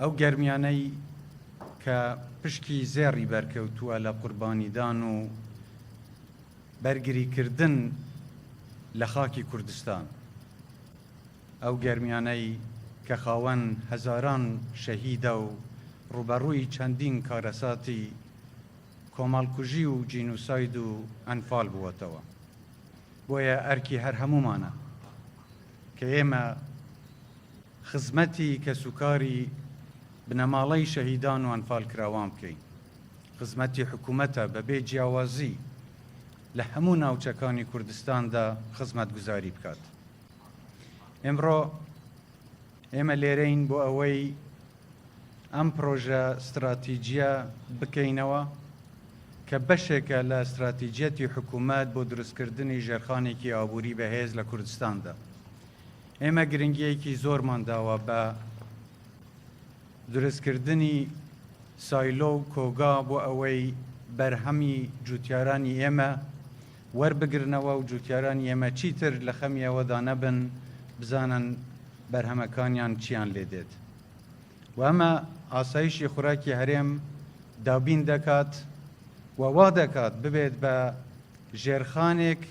ئەو گەرمیانەی کە پشکی زێڕی بەرکەوتووە لە قوربانیدان و بەرگریکردن لە خاکی کوردستان، ئەو گەرمیانەی کە خاوەن هەزاران شەهیدە و ڕووبەڕووی چەندین کارەساتی کۆمەڵکوژی و جینوساید و ئەنفال بووەتەوە. بۆیە ئەرکی هەر هەموومانە کە ئێمە، خزمەتی کەسوکاری بنەماڵەی شەهیدان و ئەنفالکراوان بکەین، خزمەتی حکومەتە بەبێ جیاوازی لە هەموو ناوچەکانی کوردستاندا خزمەتگوزاری بکات. ئمڕۆ ئێمە لێرەین بۆ ئەوەی ئەم پرۆژە ستراتیجیە بکەینەوە کە بەشێکە لە ستراتیجیەتی حکوومەت بۆ دروستکردنی ژێرخانێکی ئابووری بەهێز لە کوردستاندا. ئێمە گرنگیەکی زۆرمان داوە بە دروستکردنی سایلۆ و کۆگا بۆ ئەوەی بەرهەمی جوتیارانی ئێمە وەربگرنەوە و جوتیارانی ئێمە چیتر لە خەمی ئەوەدا نەبن بزانن بەرهەمەکانیان چیان لێ دێت و ئەمە ئاسایشی خوراکی هەرێم دابین دەکات و وا دەکات ببێت بە ژێرخانێک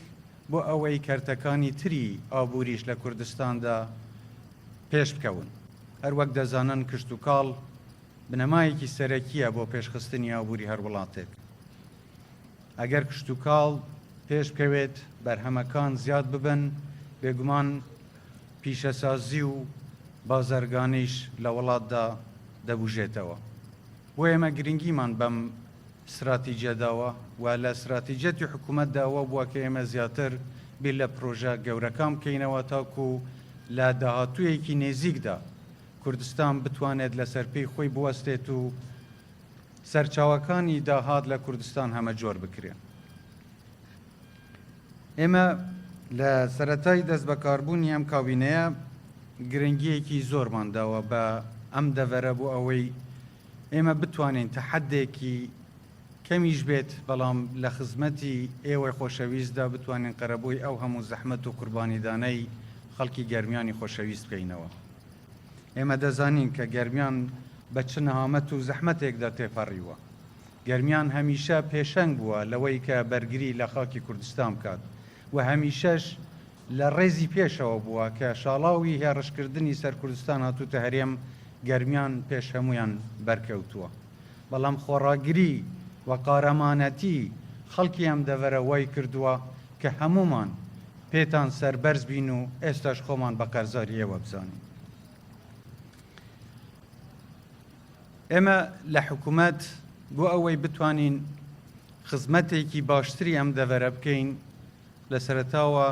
بۆ ئەوەی کەرتەکانی تری ئابووریش لە کوردستاندا پێش بکەون. هەروەک دەزانن کشتوکاڵ بنەمایەکی سەرەکییە بۆ پێشخستنی ئابووری هەر وڵاتێک. ئەگەر کشتوکاڵ پێش بکەوێت، بەرهەمەکان زیاد ببن، بێگومان پیشەسازی و بازرگانیش لە وڵاتدا دەبوژێتەوە. بۆ ئێمە گرنگیمان بەم ستراتیجە داوە و لە ستراتیجەتی حکوومەتدا وا بووە کە ئێمە زیاتر بیر لە پرۆژە گەورەکان بکەینەوە تاکوو لە داهاتوویەکی نێزیکدا کوردستان بتوانێت لەسەر پێی خۆی بوەستێت و سەرچاوەکانی داهات لە کوردستان هەمەجۆر بکرێن. ئێمە لە سەرەتای دەست بەکاربوونی ئەم کابینەیە گرنگییەکی زۆرمان داوە بە ئەم دەڤەرە بۆ ئەوەی ئێمە بتوانین تەحەدێکی کەمیش بێت بەڵام لە خزمەتی ئێوەی خۆشەویستدا بتوانین قەرەبووی ئەو هەموو زەحمەت و قوربانیدانەی خەڵکی گەرمیانی خۆشەویست بکەینەوە ئێمە دەزانین کە گەرمیان بە چ نەهامەت و زەحمەتێکدا تێپەڕیوە گەرمیان هەمیشە پێشەنگ بووە لەوەی کە بەرگری لە خاکی کوردستان بکات و هەمیشەش لە ڕێزی پێشەوە بووە کە شاڵاوی هێڕشکردنی سەر کوردستان هاتووتە هەرێم گەرمیان پێش هەموویان بەرکەوتووە بەڵام خۆڕاگری و قارەمانەتی خەڵکی ئەم دەڤەرە وای کردووە کە هەموومان پێتان سەربەرز بین و ئێستاش خۆمان بە قەرزاری ئێوە بزانین. ئێمە لە حکومەت بۆ ئەوەی بتوانین خزمەتێکی باشتری ئەم دەڤەرە بکەین لە سەرتاوە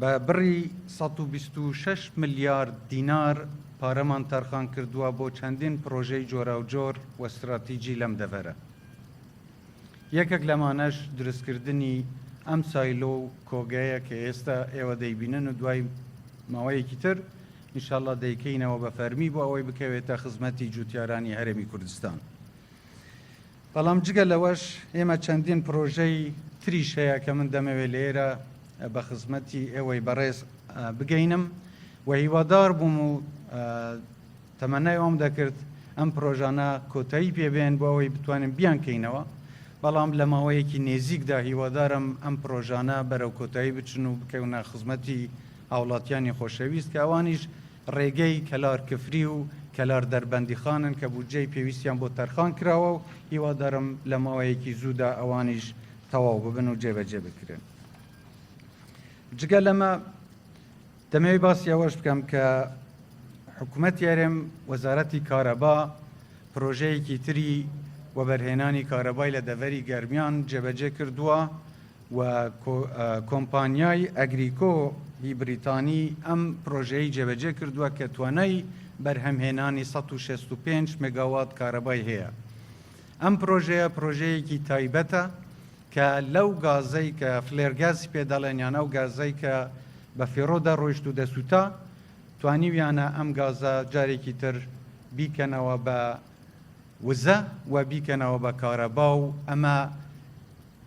بە بڕی 126 ملیارد دینار پارەمان تەرخان کردووە بۆ چەندین پرۆژەی جۆراوجۆر و استراتیجی لەم دەڤەرە یەکێک لەمانەش دروستکردنی ئەم سایلۆ و کۆگەیە کە ئێستا ئێوە دەیبینن و دوای ماوەیەکی تر ان شاء اللە دەیکەینەوە بە فەرمی بۆ ئەوەی بکەوێتە خزمەتی جووتیارانی هەرێمی کوردستان. بەڵام جگە لەوەش ئێمە چەندین پرۆژەی تریش هەیە کە من دەمەوێت لێرە بە خزمەتی ئێوەی بەڕێز بگەینم و هیوادار بووم و تەمەنای ئەوم دەکرد ئەم پرۆژانە کۆتایی پێبێن بۆ ئەوەی بتوانین بیانکەینەوە بەڵام لە ماوەیەکی نێزیکدا هیوادارم ئەم پرۆژانە بەرەو کۆتایی بچن و بکەونە خزمەتی هاوڵاتیانی خۆشەویست کە ئەوانیش ڕێگەی کەلار کفری و کەلار دەربەندیخانن کە بودجەی پێویستیان بۆ تەرخان کراوە و هیوادارم لە ماوەیەکی زوودا ئەوانیش تەواو ببن و جێبەجێ بکرێن. جگە لەمە دەمەوێت باسی ئەوەش بکەم کە حکوومەتی هەرێم وەزارەتی کارەبا پرۆژەیەکی تری وەبەرهێنانی کارەبای لە دەڤەری گەرمیان جێبەجێ کردووە و کۆمپانیای ئەگریکۆ ی بریتانی ئەم پرۆژەیەی جێبەجێ کردووە کە توانای بەرهەمهێنانی سەد و شەست و پێنج مێگاوات کارەبای هەیە. ئەم پرۆژەیە پرۆژەیەکی تایبەتە کە لەو گازەی کە فلێر گازی پێ دەڵێن یان ئەو گازەی کە بە فێڕۆ دەڕۆیشت و دەسووتا توانیویانە ئەم گازە جارێکی تر بیکەنەوە بە وزە و بیکەنەوە بە کارەبا و ئەمە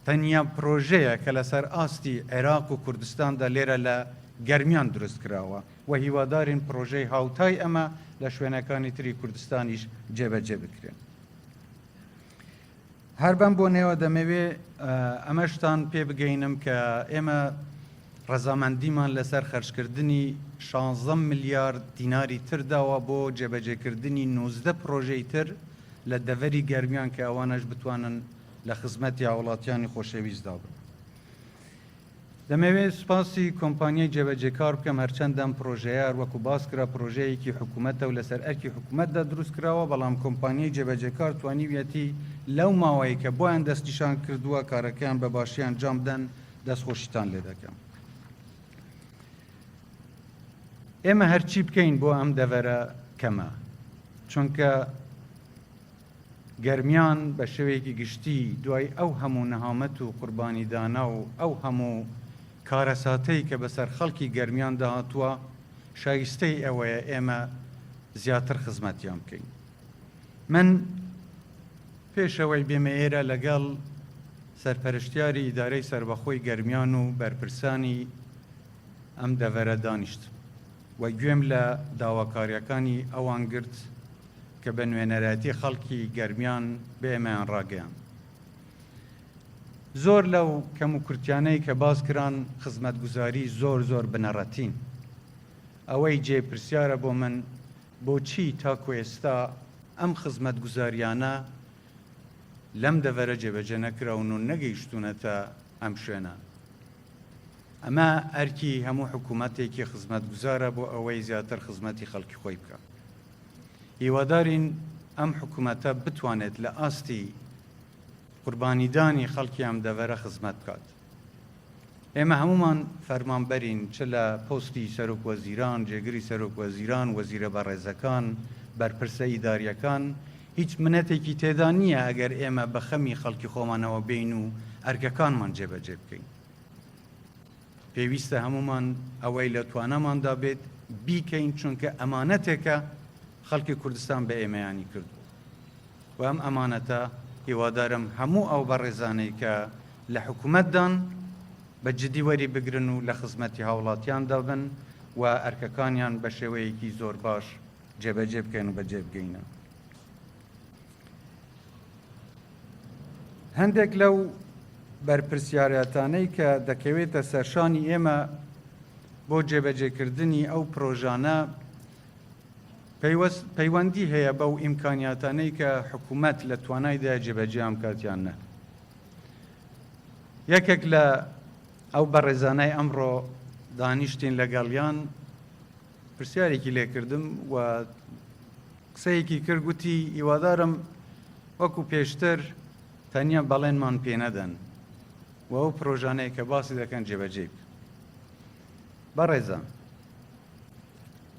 تەنیا پرۆژەیە کە لەسەر ئاستی عێراق و کوردستاندا لێرە لە گەرمیان دروست کراوە و هیوادارین پرۆژەی هاوتای ئەمە لە شوێنەکانی تری کوردستانیش جێبەجێ بکرێن. هەر بەم بۆنەوە دەمەوێ ئەمەشتان پێ بگەینم کە ئێمە ڕەزامەندیمان لەسەر خەرجکردنی 16 ملیارد دیناری ترداوە بۆ جێبەجێکردنی 19 پرۆژەی تر لە دەڤەری گەرمیان کە ئەوانەش بتوانن لە خزمەتی هاوڵاتیانی خۆشەویستدا بن. دەمەوێت سوپاسی کۆمپانیای جێبەجێکار بکەم، هەرچەندە ئەم پڕۆژەیە هەروەکو باسکرا پڕۆژەیەکی حکومەتە و لەسەر ئەرکی حکومەتدا دروستکراوە، بەڵام کۆمپانیای جێبەجێکار توانیویەتی لەو ماوەیە کە بۆیان دەستنیشانکردووە کارەکەیان بە باشی ئەنجامبدەن، دەستخۆشیتان لێدەکەم. ئێمە هەرچی بکەین بۆ ئەم دەڤەرە کەمە، چونکە گەرمیان بە شێوەیەکی گشتی دوای ئەو هەموو نەهامەت و قوربانیدانە و ئەو هەموو کارەساتەی کە بەسەر خەڵکی گەرمیاندا هاتووە، شایستەی ئەوەیە ئێمە زیاتر خزمەتیان بکەین. من پێش ئەوەی بێمە ئێرە لەگەڵ سەرپەرشتیاری ئیدارەی سەربەخۆی گەرمیان و بەرپرسانی ئەم دەڤەرە دانیشتم. و گوێم لە داواکارییەکانی ئەوان گرت کە بە نوێنەرایەتی خەڵکی گەرمیان بە ئێمەیان ڕاگەیاند. زۆر لەو کەموکورتیانەی کە باس کران خزمەتگوزاری زۆر زۆر بنەڕەتین. ئەوەی جێی پرسیارە بۆ من بۆچی تاکو ئێستا ئەم خزمەتگوزارییانە لەم دەڤەرە جێبەجێ نەکراون و نەگەیشتوونەتە ئەم شوێنە؟ ئەمە ئەرکی هەموو حکوومەتێکی خزمەتگوزارە بۆ ئەوەی زیاتر خزمەتی خەڵکی خۆی بکە هیوادارین ئەم حکوومەتە بتوانێت لە ئاستی قوربانیدانی خەڵکی ئەم دەڤەرە خزمەت بکات ئێمە هەمومان فەرمانبەرین چ لە پۆستی سەرۆک وەزیران جێگری سەرۆک وەزیران وەزیرە بەڕێزەکان بەرپرسە ئیداریەکان هیچ منەتێکی تێدا نییە ئەگەر ئێمە بە خەمی خەڵکی خۆمانەوە بێین و ئەرکەکانمان جێبەجێ بکەین. پێویستە هەمومان ئەوەی لە تواناماندا بێت بیکەین چونکە ئەمانەتێکە خەڵکی کوردستان بە ئێمەیانی کردووە. و ئەم ئەمانەتە هیوادارم هەموو ئەو بەڕێزانەی کە لە حکوومەتدان بە جدی وەری بگرن و لە خزمەتی هاوڵاتیاندا بن و ئەرکەکانیان بە شێوەیەکی زۆر باش جێبەجێ بکەین و بەجێ بگەینە هەندێک لەو بەرپرسیارەتانەی کە دەکەوێتە سەرشانی ئێمە بۆ جێبەجێکردنی ئەو پرۆژانە پەیوەندی هەیە بەو ئیمکانیاتانەی کە حکوومەت لە توانایدا جێبەجیان کاتیان نە یەکێک لە ئەو بەڕێزانای ئەمڕۆ دانیشتین لەگەڵیان پرسیارێکی لێ کردم و قسەیەکی کرد گوتی هیوادارم وەکو پێشتر تەنیا بەڵێنمان پێ نەدەن و ئەو پرۆژانەیە کە باسی دەکەن جێبەجێ بکەن. بەڕێزە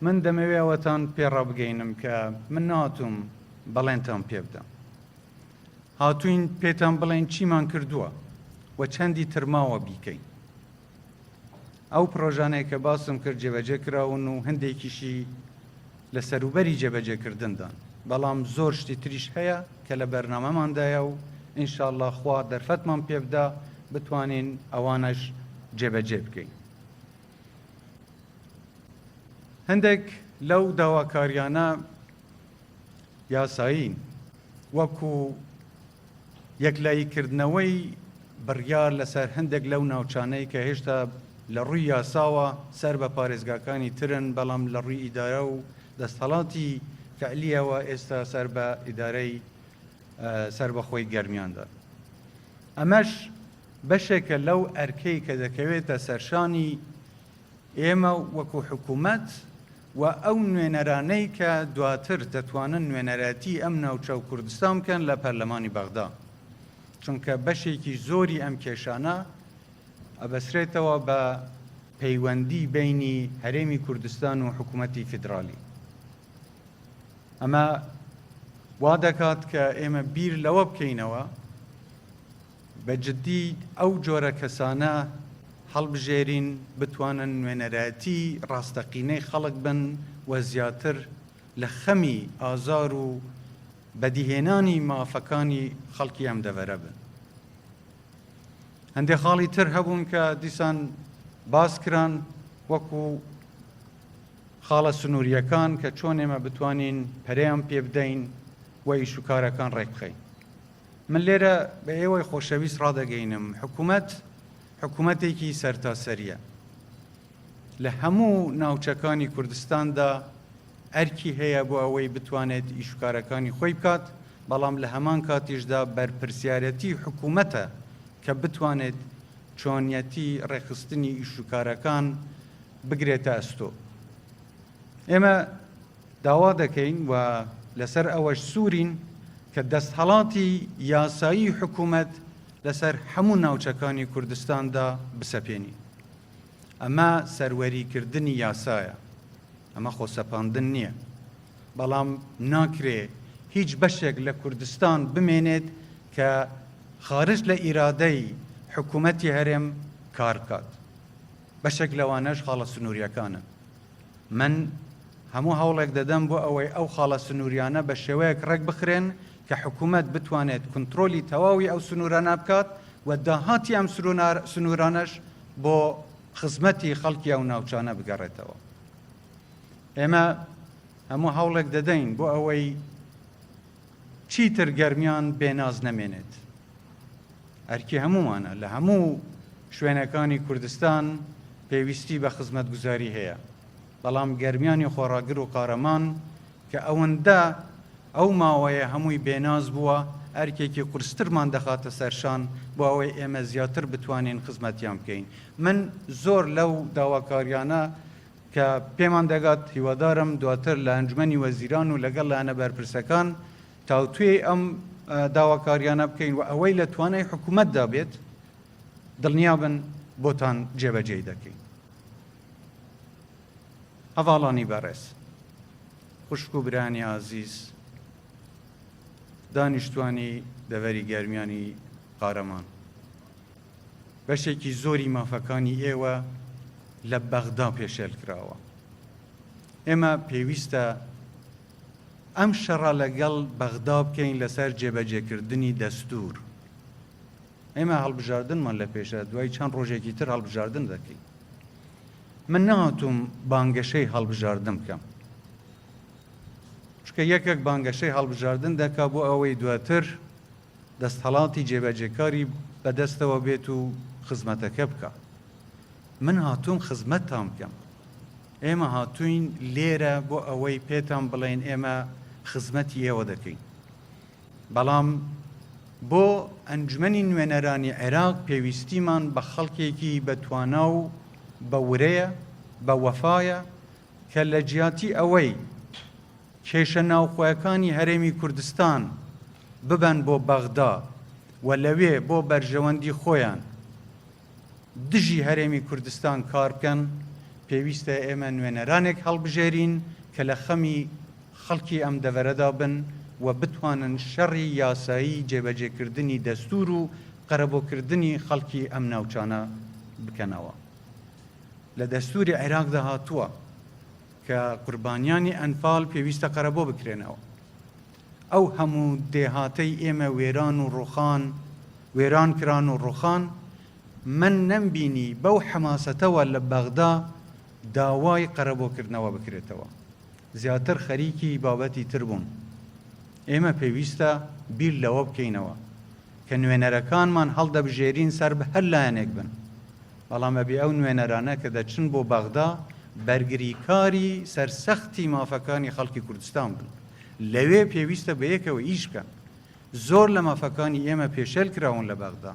من دەمەوێ ئەوەتان پێڕابگەینم کە من ناتوم بەڵێنتان پێ بدەم هاتوین پێتان بڵێن چیمان کردووە و چەندی ترماوە بیکەین ئەو پڕۆژانەی کە باسم کرد جێبەجێ کراون و هەندێکیشی لە سەروبەری جێبەجێکردندان بەڵام زۆر شتی تریش هەیە کە لە بەرنامەماندایە و ئینشاءله خوا دەرفەتمان پێبدا بتوانین ئەوانەش جێبەجێ بکەین. هەندێک لەو داواکاریانە یاسایین، وەکو یەکلاییکردنەوەی بڕیار لەسەر هەندێک لەو ناوچانەی کە هێشتا لە ڕووی یاساوە سەر بە پارێزگاکانی ترن، بەڵام لە ڕووی ئیدارە و دەستهەڵاتی فەعلییەوە ئێستا سەر بە ئیدارەی سەربەخۆی گەرمیاندان. ئەمەش بەشێکە لەو ئەرکەی کە دەکەوێتە سەرشانی ئێمە وەکو حکوومەت، و ئەو نوێنەرانەی کە دواتر دەتوانن نوێنەرایەتی ئەم ناوچە و کوردستان بکەن لە پەرلەمانی بەغدا، چونکە بەشێکی زۆری ئەم کێشانە ئەبەسرێتەوە بە پەیوەندی بەینی هەرێمی کوردستان و حکوومەتی فیدراڵی. ئەمە وا دەکات کە ئێمە بیر لەوە بکەینەوە، بە جدی ئەو جۆرە کەسانە هەڵبژێرین بتوانن نوێنەرایەتی ڕاستەقینەی خەڵک بن و زیاتر لە خەمی ئازار و بەدیهێنانی مافەکانی خەڵکی ئەم دەڤەرە بن. هەندێ خاڵی تر هەبوون کە دیسان باس کران وەکو خاڵە سنووریەکان کە چۆن ئێمە بتوانین پەرەیان پێ بدەین و ئیشوکارەکان ڕێکخەین. من لێرە بە ئێوەی خۆشەویست ڕادەگەینم، حکومەت حکومەتێکی سەرتاسەریە. لە هەموو ناوچەکانی کوردستاندا ئەرکی هەیە بۆ ئەوەی بتوانێت ئیشوکارەکانی خۆی بکات، بەڵام لە هەمان کاتیشدا بەرپرسیارەتی حکومەتە کە بتوانێت چۆنیەتی ڕێکخستنی ئیشوکارەکان بگرێتە ئەستۆ. ئێمە. داوا دەکەین و لەسەر ئەوەش سوورین کە دەستهەڵاتی یاسایی حکوومەت لەسەر هەموو ناوچەکانی کوردستاندا بسەپێنین. ئەمە سەروەریکردنی یاسایە، ئەمە خۆسەپاندن نییە. بەڵام ناکرێ هیچ بەشێک لە کوردستان بمێنێت کە خارج لە ئیرادەی حکوومەتی هەرێم کار بکات. بەشێک لەوانەش خاڵە سنوورییەکانن. من هەموو هەوڵێک دەدەم بۆ ئەوەی ئەو خاڵە سنووریانە بە شێوەیەک ڕێک بخرێن کە حکوومەت بتوانێت کونترۆلی تەواوی ئەو سنوورانە بکات و داهاتی ئەم سنوورانەش بۆ خزمەتی خەڵکی ئەو ناوچانە بگەڕێتەوە. ئێمە هەموو هەوڵێک دەدەین بۆ ئەوەی چیتر گەرمیان بێ ناز نەمێنێت ئەرکی هەموومانە لە هەموو شوێنەکانی کوردستان پێویستی بە خزمەتگوزاری هەیە بەڵام گەرمیانی خۆڕاگر و قارەمان کە ئەوەندە ئەو ماوەیە هەمووی بێناز بووە ئەرکێکی قورسترمان دەخاتە سەرشان بۆ ئەوەی ئێمە زیاتر بتوانین خزمەتیان بکەین من زۆر لەو داواکاریانە کە پێمان دەگات هیوادارم دواتر لە ئەنجومەنی وەزیران و لەگەڵ لایەنە بەرپرسەکان تاوتوێی ئەم داواکاریانە بکەین و ئەوەی لە توانای حکوومەتدا بێت دڵنیابن بۆتان جێبەجێی دەکەین. هەواڵانی بەڕێز خوشک و برانی ئازیز دانیشتوانی دەڤەری گەرمیانی قارەمان بەشێکی زۆری مافەکانی ئێوە لە بەغدا پێشێل کراوە. ئێمە پێویستە ئەم شەڕە لەگەڵ بەغدا بکەین لەسەر جێبەجێکردنی دەستوور. ئێمە هەڵبژاردنمان لە پێشە دوای چەند ڕۆژێکی تر هەڵبژاردن دەکەین. من نەهاتووم بانگەشەی هەڵبژاردن بکەم. چونکە یەکێک بانگەشەی هەڵبژاردن دەکا بۆ ئەوەی دواتر دەستهەڵاتی جێبەجێکاری بەدەستەوە بێت و خزمەتەکە بکا. من هاتووم خزمەتتان بکەم. ئێمە هاتووین لێرە بۆ ئەوەی پێتان بڵێین ئێمە خزمەتی ئێوە دەکەین. بەڵام بۆ ئەنجومەنی نوێنەرانی عێراق پێویستیمان بە خەڵکێکی بە توانا و بە ورەیە، بە وەفایە کە لە جیاتی ئەوەی کێشە ناوخۆیەکانی هەرێمی کوردستان ببەن بۆ بەغدا و لەوێ بۆ بەرژەوەندی خۆیان دژی هەرێمی کوردستان کار بکەن، پێویستە ئێمە نوێنەرانێک هەڵبژێرین کە لە خەمی خەڵکی ئەم دەڤەرەدا بن و بتوانن شەڕی یاسایی جێبەجێکردنی دەستوور و قەرەبۆکردنی خەڵکی ئەم ناوچانە بکەنەوە. لە دەستوری عێراقدا هاتووە کە قوربانیانی ئەنفال پێویستە قەرەبۆ بکرێنەوە ئەو هەموو دێهاتەی ئێمە وێران و ڕوخان وێران کران و ڕوخان من نەمبینی بەو حەماسەتەوە لە بەغدا داوای قەرەبۆکردنەوە بکرێتەوە زیاتر خەریکی بابەتی تر بوون ئێمە پێویستە بیر لەوە بکەینەوە کە نوێنەرەکانمان هەڵدەبژێرین سەر بە هەر لایەنێک بن، بەڵام ئەبێ ئەو نوێنەرانە کە دەچن بۆ بەغدا بەرگریکاری سەرسەختی مافەکانی خەڵکی کوردستان بن، لەوێ پێویستە بەیەکەوە ئیش بکەن، زۆر لە مافەکانی ئێمە پێشێل کراون لە بەغدا،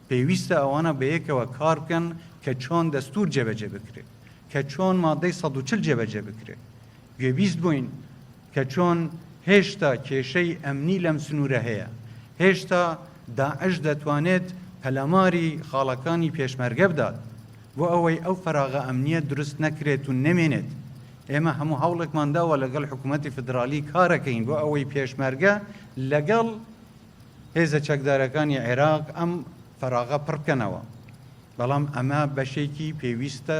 پێویستە ئەوانە بەیەکەوە کار بکەن کە چۆن دەستوور جێبەجێ بکرێت، کە چۆن مادەی سەد و چل جێبەجێ بکرێت، گوێبیست بووین، کە چۆن هێشتا کێشەی ئەمنی لەم سنوورە هەیە، هێشتا داعش دەتوانێت پەلاماری خاڵەکانی پێشمەرگە بدات، بۆ ئەوەی ئەو فەراغە ئەمنییە دروست نەکرێت و نەمێنێت، ئێمە هەموو هەوڵێکمان داوە لەگەڵ حکوومەتی فیدراڵی کارەکەین بۆ ئەوەی پێشمەرگە لەگەڵ هێزە چەکدارەکانی عێراق ئەم فەراغە پڕ بکەنەوە، بەڵام ئەمە بەشێکی پێویستە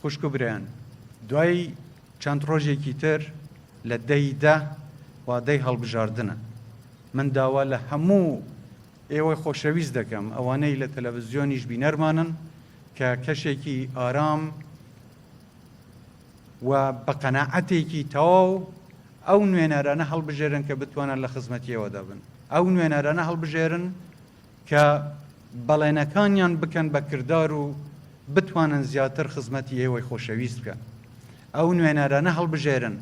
خوشک و برایان دوای چەند ڕۆژێکی تر لە دەی دە وادەی هەڵبژاردنە من داوا لە هەموو ئێوەی خۆشەویست دەکەم ئەوانەی لە تەلەڤزیۆنیش بینەرمانن کە کەشێکی ئارام و بە قەنەعەتێکی تەواو ئەو نوێنەرانە هەڵبژێرن کە بتوانن لە خزمەتیەوەدا بن ئەو نوێنەرانە هەڵبژێرن کە بەڵێنەکانیان بکەن بە کردار و بتوانن زیاتر خزمەتی ئێوەی خۆشەویست بکەن. ئەو نوێنەرانە هەڵبژێرن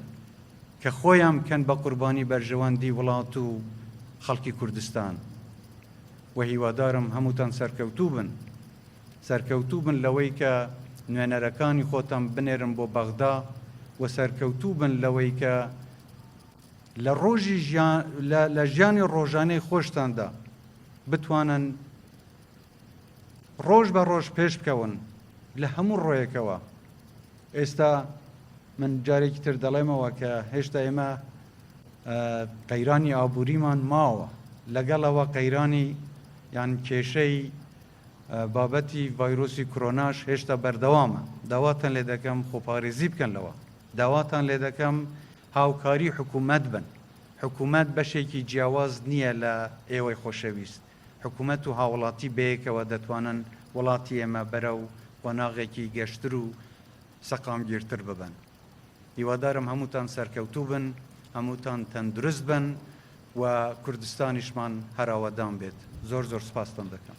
کە خۆیان بکەن بە قوربانی بەرژەوەندی وڵات و خەڵکی کوردستان و هیوادارم هەمووتان سەرکەوتوو بن. سەرکەوتوو بن لەوەی کە نوێنەرەکانی خۆتان بنێرن بۆ بەغدا و سەرکەوتوو بن لەوەی کە لە ڕۆژی ژیان لە لە ژیانی ڕۆژانەی خۆشتاندا بتوانن ڕۆژ بە ڕۆژ پێش بکەون لە هەموو ڕۆیەکەوە ئێستا من جارێکی تر دەڵێمەوە کە هێشتا ئێمە قەیرانی ئابووریمان ماوە لەگەڵەوە قەیرانی یان کێشەی بابەتی ڤایرۆسی کرۆناش هێشتا بەردەوامە داواتان لێ دەکەم خۆپارێزی بکەن لەوە داواتان لێ دەکەم هاوکاری حکومەت بن حکومەت بەشێکی جیاواز نیە لە ئێوەی خۆشەویست حکومەت و هاوڵاتی بەیەکەوە دەتوانن وڵاتی ئێمە بەرەو قۆناغێکی گەشتر و سەقامگیرتر ببەن هیوادارم هەمووتان سەرکەوتوو بن هەمووتان تەندروست بن و کوردستانیشمان هەرئاوەدان بێت زۆر زۆر سپاستان دەکەم.